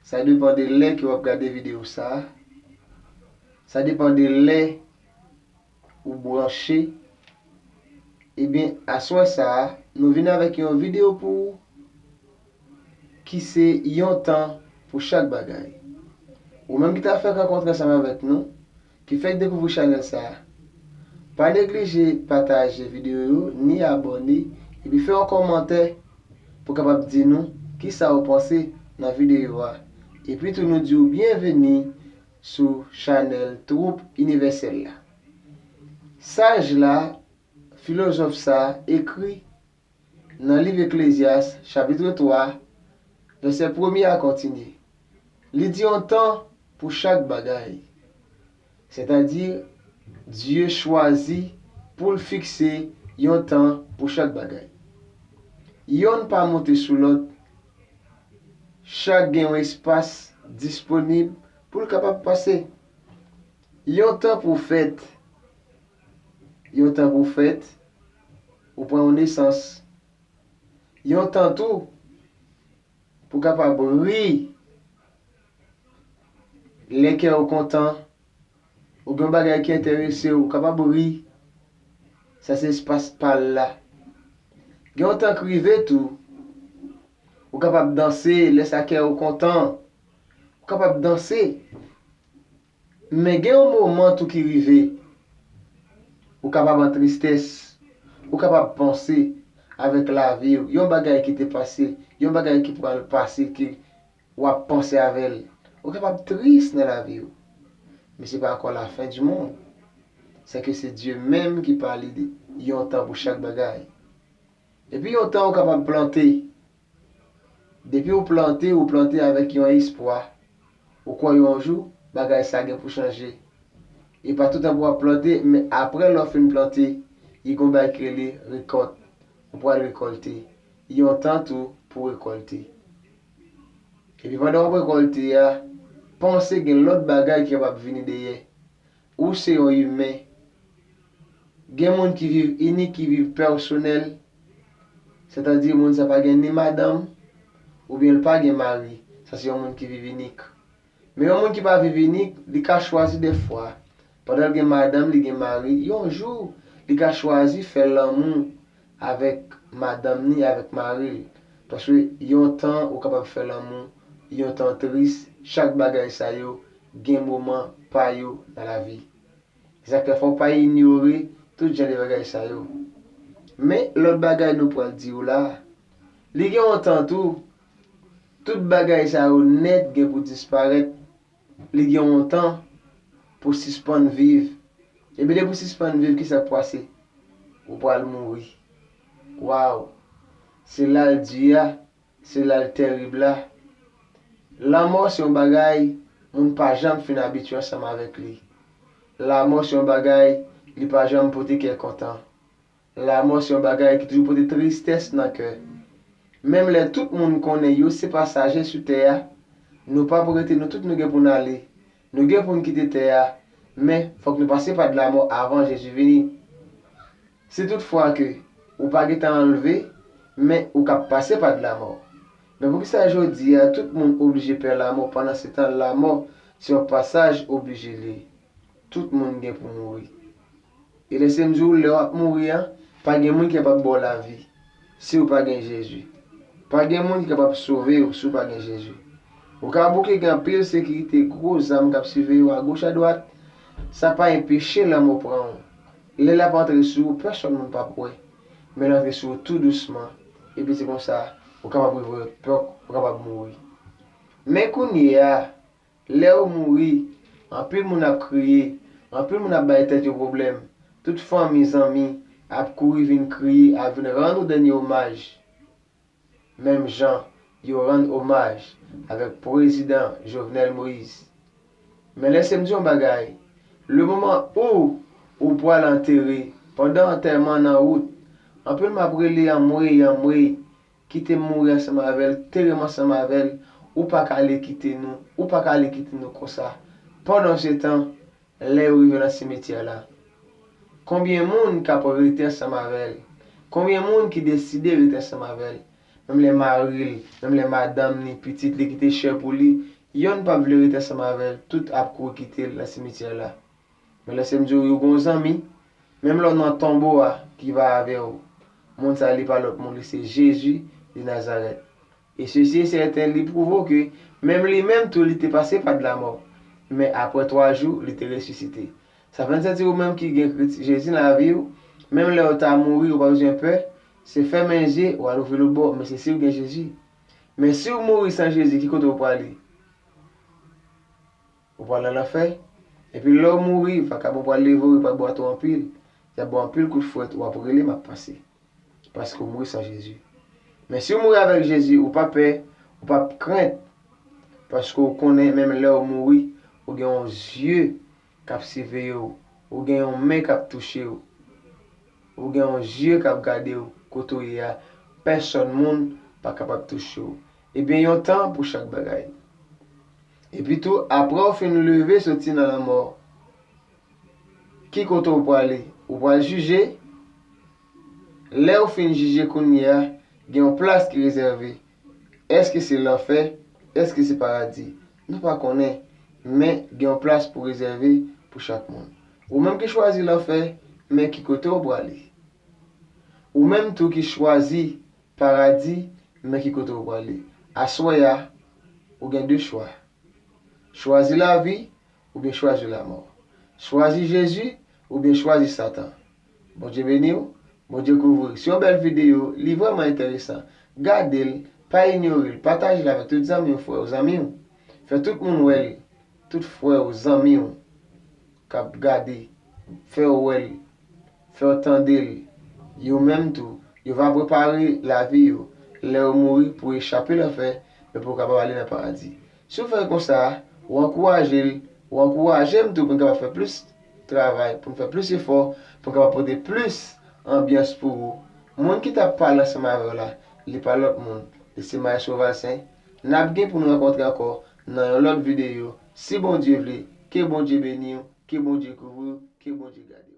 Sa depan de lè ke wap gade video sa. Sa depan de lè ou branche. Ebyen aswè sa a nou vin avèk yon video pou ou ki se yon tan pou chak bagay. Ou menm ki ta fèk rankontre ansanm avèk nou. Ki fèk dekouvri chanèl sa a. Pa neglije pataje videyo yo ni abòne epi fè yon kòmantè pou kapab di nou kisa ou panse nan videyo a epi tou nou diw byenveni sou chanèl twoup inivèsèl la. Saj la, filozòf sa ekri Nan liv Eklezyas, chapitre 3, vèsè premye a kontinye, li di yon tan pou chak bagay. Sètadi, Dye chwazi pou l fikse yon tan pou chak bagay. Yonn pa monte sou lòt, chak gen yon espas disponib pou l kapab pase. Yon tan pou fèt, yon tan pou fèt. Ou pran yon nesans. Yon tan tou pou kapab ri lè kè ou kontan oubyen yon bagay ki enterese ou kapab ri. Sa se espas pa l la. Gen yon tan k rive tou ou kapab danse lè sa kè ou kontan. Ou kapab danse. Men gen yon moman tou ki rive, ou kapab an tristès, ou kapab panse avèk lavi ou, yon bagay ki te pase, yon bagay ki pral pase ke w ap panse avè l. Ou kapab tris nan lavi ou. Men se pa ankò la fin du monde. Sè ke se Dye menm ki pale de yon tan pou chak bagay. Epi yon tan ou kapab plante. Depi ou plante, ou plante avèk yon espwa. Ou kwè yon jou, bagay sa gen pou chanje. E pa toutan pou w ap plante, men apre lè w fin plante, y gon bagay ki rele rekòt. Ou pral rekòlte. Y yon tan tou pou w rekòlte. Epi pandan w ap rekòlte a, panse gen lòt bagay ki kapab vini dèyè. Ou se yon imen. Gen moun ki viv inik, ki viv pèsonèl, sètadi moun sa pa gen ni madanm, oubyen l pa gen mari, sa se yon moun ki viv inik. Men yon moun ki pa viv inik, li ka chwazi dèfwa, pandan l gen madanm, li gen mari, yon jou, li ka chwazi fè lanmou avèk madanm ni avèk mari l, paske yon tan ou kapab fè lanmou, yon tan tris, chak bagay sa yo gen moman pa yo nan lavi. Sa k fè fò w pa inyore tout jan de bagay sa yo. Men lòt bagay nou pral di w la, li gen yon tan tou, tout bagay sa yo nèt gen pou disparèt. Li gen yon tan pou sispann viv. Epi depi ou sispann viv kisa k pwase? Ou pwal mouri. Waw! Se la l di a, se la l terib la. Lanmò se yon bagay moun pa janm fin abitye ansanm avèk li. Lamò se yon bagay li pa janm pote kè kontan. Lanmò se yon bagay ki toujou pote tristès nan kè. Menm lè tout moun konnen yo se pasaje sou tè a, nou pap rete nou tout nou gen pou n ale. Nou gen pou n kite tè a, men fòk nou pase pa dlamò avan Jezi vini. Si tout fwa ke ou pa gen tan anlve, men ou k ap pase pa dlamò. Men poukisa jodi a tout moun oblije pè lamò pandan se tan lamò se yon pasaj oblije li. Tout moun gen pou mouri. E lèse m di w lè w ap mouri an, pa gen moun ki kapab ba w lavi si w pa gen Jezi. Pa gen moun ki kapab sove w si w pa gen Jezi. Ou ka bouke gen anpil sekirite, gwo zam k ap siveye w agoch adwat, sa pa enpeche lanmò pran w. Lè l ap antre sou ou, pèsòn moun p ap wè, men l antre sou ou tou dousman, epi se konsa ou kapab rive wè pè w kapab mouri. Men kounyeya, Lè ou mouri, anpil moun ap kriye, anpil moun ap bay tèt yo pwoblèm, tout fanmi, zanmi, ap kouri vin kriye, ap vin rann ou dènye omaj, menm jan yo rann omaj avèk Pwezidan Jovenel Moïse. Men lèse m di yon bagay, lemoman ou ou pwal antere, pandan antèman an nan wout, anpil moun ap rele anmwey, anmwey, Kite m mouri ansanm avè l, tere m ansanm avè l, ou pa ka ale kite nou, ou pa ka ale kite nou konsa. Pandansetan, lè yo rive nan simetyè la, konbyen moun k ap rete ansanm avè l? Konbyen moun ki deside rete ansanm avè l? Menm lè mari l, menm lè madanm li, pitit li ki te chè pou li, yonn p ap vle rete ansanm avè l, tout ap kouri kite l nan simetyè la. Men lèse m di w yo gon zanmi, menm lè w nan tonbo a ki va avè w, moun sa li pa lòt moun li se Jezi de Nazarèt. E sesi e sèten li pwouve w ke menm li menm tou li te pase pa de lamò, men apre twa jou li te resisite. Sa fè n santi ou menm ki gen Kris Jezi nan lavi w, menm lè w ta mouri ou pa bezwen pè, se fèmen je w al ouvri lòt bò, men se si w gen Jezi. Men si w mouri san Jezi ki kote w prale? Ou pral nan lanfè. Epi lè w mouri, vakabon yo pral leve w, yo pral ba w ato anpil. Y ap ba w anpil kout fwèt, w ap rele m ap pase. Paske w mouri san Jezi. Men si w mouri avèk Jezi, ou pa pè, ou pa ap krent. Paske w konnen menm lè w mouri, ou gen yon zye k ap siveye w, ou gen yon men k ap touche w, ou gen yon zye k ap gade w kote w ye a, pèsòn moun pa kapab touche w. E gen yon tan pou chak bagay. Epitou, apre w fin leve soti nan lanmò, ki kote w prale? Ou pral jije. Lè ou fin jije kounye a, gen yon plas ki rezève. Èske se lanfè? Èske se paradi? Nou pa konnen. Men, gen yon plas pou rezève pou chak moun. Ou menm ki chwazi lanfè, men ki kote ou prale? Ou menm tou ki chwazi Paradi nan ki kote ou prale. Aswè a, ou gen 2 chwa. Chwazi lavi oubyen chwazi lamò. Chwazi Jezi oubyen chwazi satan. Bondye beniw, Bondye kouvriw. Se yon bèl video, li vrèman enteresan. Gade l, pa inyore l, pataje l avèk tout zanmiw, frèw, zanmiw. Fè tout moun wè l, tout frèw, zanmiw. kap gade, fèw wèl, fèw tandel, yo menm tou, yo va prepare lavi yo lè yo mouri pou echape lanfè men pou kapab ale nan paradi. Si w fè konsa, ou ankouraje l, ou ankouraje m tou pou n kapab fè plis travay, pou n fè plis efò, pou n kapab pote plis anbyans pou ou. Moun ki tap pale ansanm avèw la, li pa lòt moun, li se Maestro Valcin. Nap gen pou n rankontre ankò nan yon lòt videyo si Bondye vle ke Bondye beniw ke Bondye kouvriw ke Bondye gadew.